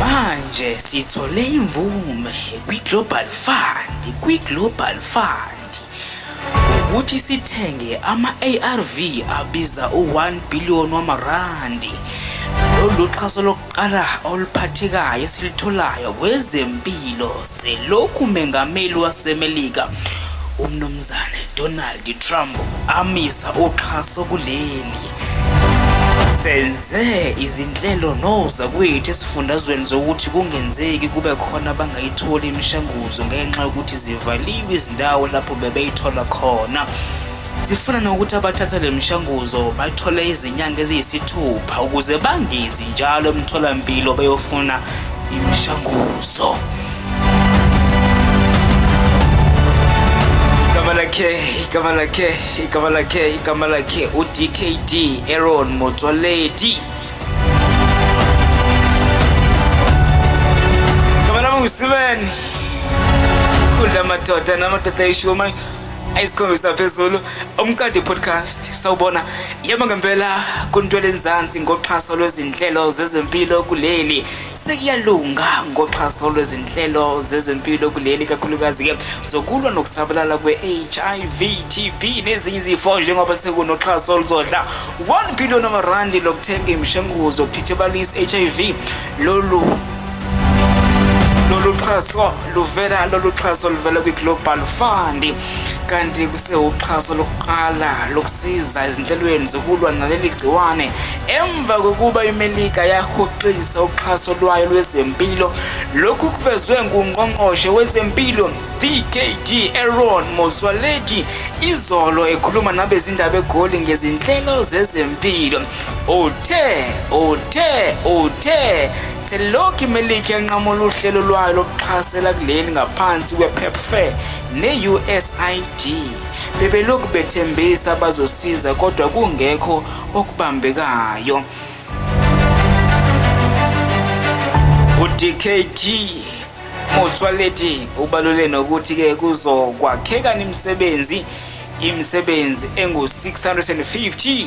Manje sithole imvume kwi-Global Fund, kwi-Global Fund ukuthi sithenge ama-ARV abiza u-1 billion wamarandi. Lolu xhaso lokuqala oluphathekayo esilitholayo kwezempilo selokhu umengameli waseMelika uMnumzane Donald Trump amisa uxhaso kuleli senze izinhlelo nozakwethu esifundazweni zokuthi kungenzeki kube khona abangayitholi imishanguzo ngenxa yokuthi zivaliwe izindawo lapho bebeyithola khona sifuna nokuthi abathatha le mishanguzo bathole izinyanga eziyisithupha ukuze bangezi njalo emtholampilo beyofuna imishanguzo igama lakhe igama lakhe igama lakhe igama lakhe udkd aron motswaledi igama lami ngusibeni khula madoda namadoda ishiwo manje ayisikhombisa phezulu umqadi podcast sawubona yebo ngempela kuntwele nzansi ngoxhaso lwezinhlelo zezempilo kuleli sekuyalunga ngoxhaso lwezinhlelo zezempilo kuleli kakhulukazi-ke zokulwa nokusabalala kwe-hiv tb nezinye izifo njengoba sekunoxhaso oluzodla 1 billion amarandi lokuthenga imishanguzo yokuthithibalisa i-hiv lolu lolu xhaso Luvela lolu xhaso luvela kwi-Global Fund kanti kusewuxhaso lokuqala lokusiza ezinhlelweni zokulwa naleli gciwane emva kokuba imelika yahoxisa uxhaso lwayo lwezempilo lokhu kuvezwe ngungqongqoshe wezempilo dkd aron mozwaledi izolo ekhuluma nabezindaba egoli ngezinhlelo zezempilo uthe uthe uthe Selokhu iMelika yanqamula uhlelo lwayo lokuxhasela kuleli ngaphansi kwePEPFAR ne-USAID, bebelokhu bethembisa bazosiza kodwa kungekho okubambekayo. UDKG Motsoaledi ubalule nokuthi ke kuzokwakheka imisebenzi imisebenzi engu-650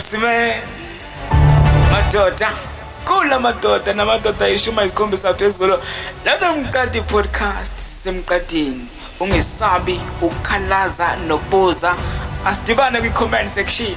sime madoda kula madoda namadoda ishuma isikhombi sathu ezolo lana mqadi podcast sisemqadini ungesabi ukukhalaza nokubuza asidibane kwi-comment section